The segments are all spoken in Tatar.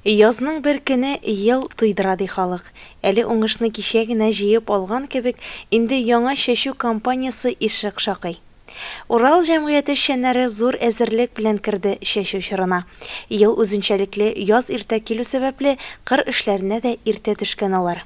Язның бер көне ел туйдыра ди халык. Әле уңышны кичә генә җыеп алган кебек, инде яңа чәчү кампаниясе ишек шакый. Урал җәмгыяте эшчәннәре зур әзерлек белән керде чәчү чорына. Ел үзенчәлекле яз иртә килү сәбәпле, кыр эшләренә дә иртә төшкән алар.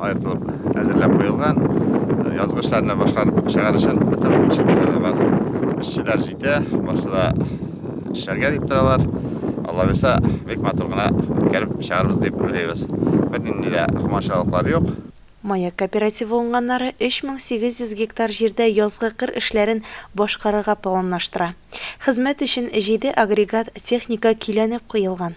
аертылып әзерләп куелган. Язгычларны башкарып чыгар өчен бөтен учетта бар. Эшчеләр җитә, барсы да эшләргә дип торалар. Алла бирсә, бик матур гына үткәреп чыгарбыз дип уйлыйбыз. Бернинди дә комачаулыклар юк. Маяк кооперативы уңганнары 3800 гектар җирдә язгы кыр эшләрен башкарырга планлаштыра. Хезмәт өчен җиде агрегат техника көйләнеп куелган.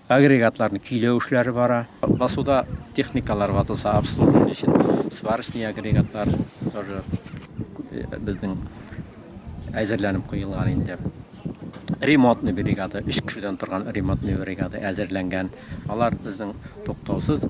Агрегатларны көйләү эшләре бара. Басуда техникалар ватылса, обслуживание өчен сварочный агрегатлар тоже безнең әзерләнеп куелган инде. Ремонтный бригада, өч кешедән торган ремонтный бригада әзерләнгән. Алар безнең туктаусыз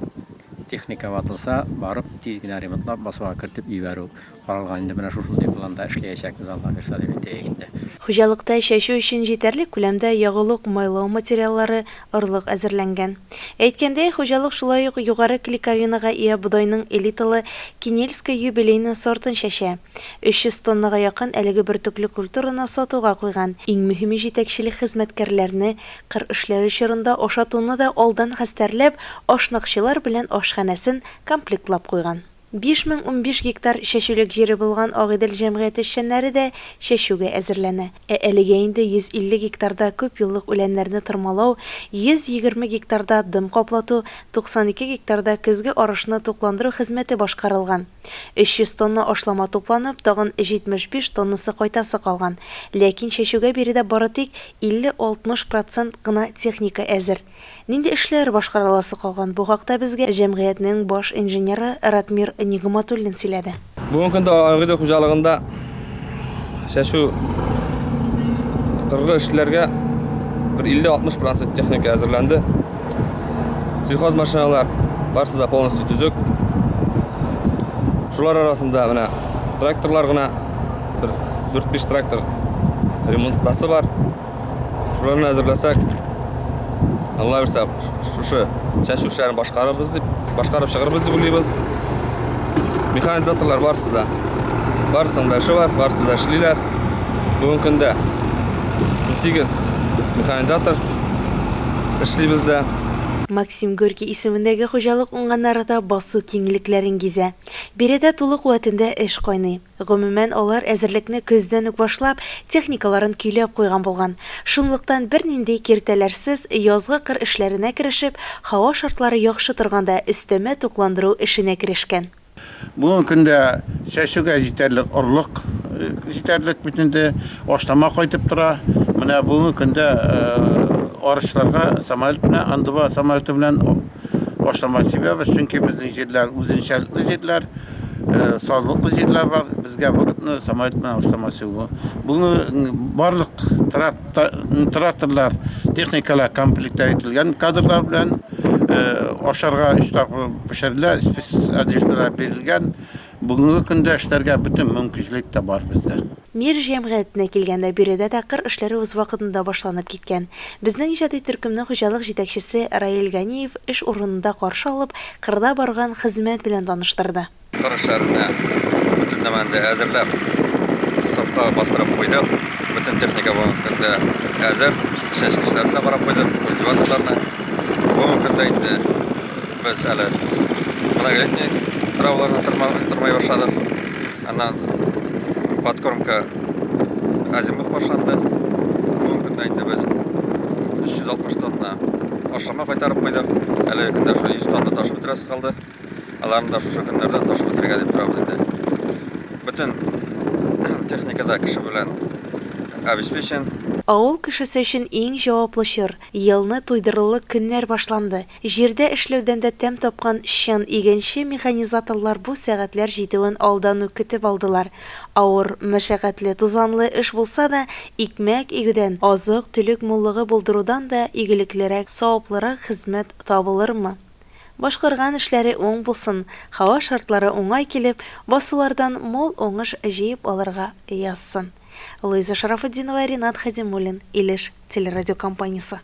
техника ватылса, барып тиз генә ремонтлап, басуга кертеп җибәрү. Каралган инде менә шушындый планда эшләячәкбез Алла бирса дип әйтәек инде. Хуҗалыкта чәчү өчен җитәрлек күләмдә ягулык, майлау материаллары, орлык әзерләнгән. Әйткәндәй, хуҗалык шулай ук югары клейковинага ия бодайның элиталы Кинельское юбилейное сортын чәчә. 300 тоннага якын әлеге бөртекле культураны сатуга куйган. Иң мөһиме җитәкчелек хезмәткәрләрне кыр эшләре чорында ашатуны да алдан хәстәрләп, ашнакчылар белән ашханәсен комплектлап куйган. 5015 гектар чәчүлек җире булган Агыйдел җәмгыяте эшчәннәре дә чәчүгә әзерләнә. Ә әлегә инде 150 гектарда күпьеллык үләннәрне тырмалау, 120 гектарда дым каплату, 92 гектарда көзге арышны тукландыру хезмәте башкарылган. 300 тонна ашлама тупланып, тагын 75 тоннасы кайтасы калган. Ләкин чәчүгә биредә бары тик 50-60 процент кына техника әзер. Нинди эшләр башкарыласы калган, бу хакта безгә җәмгыятьнең баш инженеры Ратмир Нигъматуллин сөйләде. Бүгенге көндә Агыйдел хуҗалыгында чәчү кыргы эшләргә бер 50-60 процент техника әзерләнде. Сельхозмашиналар барысы да полностью төзек. Шулар арасында менә тракторлар гына бер 4-5 трактор ремонтласы бар. Шуларны әзерләсәк, Алла бирсә, шушы чәчү эшләрен башкарыбыз дип, башкарып чыгырбыз дип уйлыйбыз. Механизаторлар барысы да. Барысының да эше бар, барысы да эшлиләр. Бүгенге көндә 18 механизатор эшли бездә. Максим Горький исемендәге хуҗалык уңганнары да басу киңлекләрен гизә. Биредә тулы куәтендә эш кайный. Гомумән, алар әзерлекне көздән үк башлап, техникаларын көйләп куйган булган. Шунлыктан, бернинди киртәләрсез, язгы кыр эшләренә керешеп, һава шартлары яхшы торганда, өстәмә тукландыру эшенә керешкән. Бүгенге көндә чәчүгә җитәрлек орлык җитәрлек бит инде, ашлама кайтып тора. Менә бүгенге көндә арычларга самолет белән, андыва самолеты белән, Башламас сибәбез, чөнки безнең җирләр үзенчәлекле җирләр, э, сазлыклы җирләр бар. Безгә вакытны самолет белән башламас сибү. Бүгенге барлык тракторлар, техникалар комплекттә ителгән кадрлар белән э, ашарга өч тапкыр пешерелә, спец одеждалар бирелгән. Бүгенге көндә эшләргә бөтен мөмкинчелек тә бар бездә. Мир җәмгыятенә килгәндә, биредә дә кыр эшләре үз вакытында башланып киткән. Безнең иҗади төркемне хуҗалык җитәкчесе Раил Ганиев эш урынында каршы алып, кырда барган хезмәт белән таныштырды. Кыр эшләренә бөтен нәмәне дә әзерләп, сафка бастырып куйдык. Бөтен техника бүгенге көндә әзер. Чәчкечләрне дә карап куйдык, культиваторларны. Бүгенге көндә инде без әле многолетний траваларны тырмый башладык. Аннан подкормка азимут башланды. Бүгенге көндә инде без 360 тонна ашлама кайтарып куйдык. Әлеге көндә шул 100 тонна ташып бетерәсе калды. Аларны да шушы көннәрдә ташып бетерергә дип торабыз инде. Бөтен техникада кеше белән обеспечен. Авыл кешесе өчен иң җаваплы чор, елны туйдырырлык көннәр башланды. Җирдә эшләүдән дә тәм тапкан чын игенче механизаторлар бу сәгатьләр җитүен алдан ук көтеп алдылар. Авыр, мәшәкатьле, тузанлы эш булса да, икмәк игүдән, азык-төлек муллыгы булдырудан да игелеклерәк, саваплырак хезмәт табылырмы? Башкарган эшләре уң булсын, һава шартлары уңай килеп, басулардан мул уңыш җыеп алырга язсын. Луиза Шарафутдинова, Ринат Хәдимуллин, Илеш телерадиокомпаниясе.